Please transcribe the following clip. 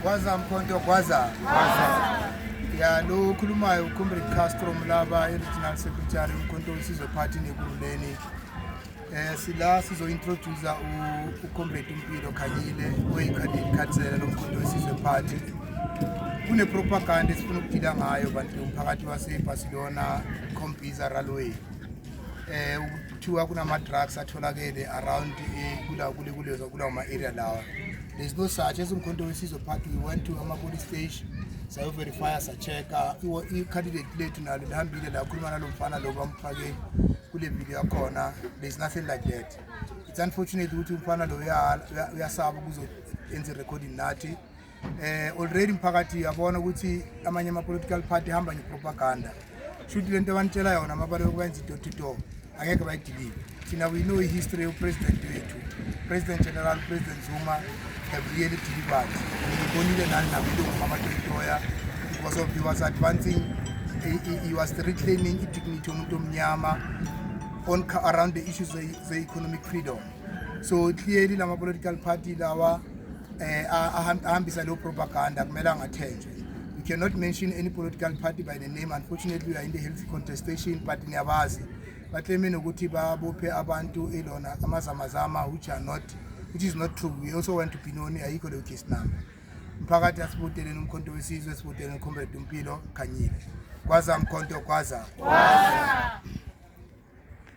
Kwaza mkhonto kwaza. Kwaza. ya lo okhulumayo ucomrade castro mlaba i-regional secretary umkhonto wesizwe party nekululeni um eh, sila sizointrodusa ucomrade umpilo khanyile oyikhadikhathizela lo mkhonto wesizwe party kunepropaganda esifuna ukudila ngayo bantu umphakathi wasebarcelona combiza ralway eh kuthiwa kunama drugs atholakele around eh, kula kule kulezo kulawo ma area lawa there's no such as umkhonto wesizwe party we went to ama police station sayo verify sa check iwo i candidate lethu nalo lihambile la khuluma nalomfana lo bamfake kule video yakhona there's nothing like that it's unfortunate ukuthi umfana lo uyasaba kuzo enze recording nathi eh already mphakathi uyabona ukuthi amanye ama political party hamba nge propaganda shuthi lento abanitshela yona mabale ukwenza i door to door angeke bayidilive thina we know history of president wethu president general president Zuma have really delivered ngibonile nani nakulungu mama Toya because of he was advancing he, he, he was reclaiming i dignity yomuntu omnyama on around the issues of the economic freedom so clearly lama political party lawa eh ahambisa lo propaganda kumele angathenjwe you cannot mention any political party by the name unfortunately we are in the health contestation but niyabazi bakleme nokuthi babophe abantu elona amazamazama which are not which is not true we also want to be known ayikho leyo case number mphakathi asibudeleni umkhonto wesizwe sibudeleni ucomrade umpilo khanyile kwaza mkhonto kwaza kwaza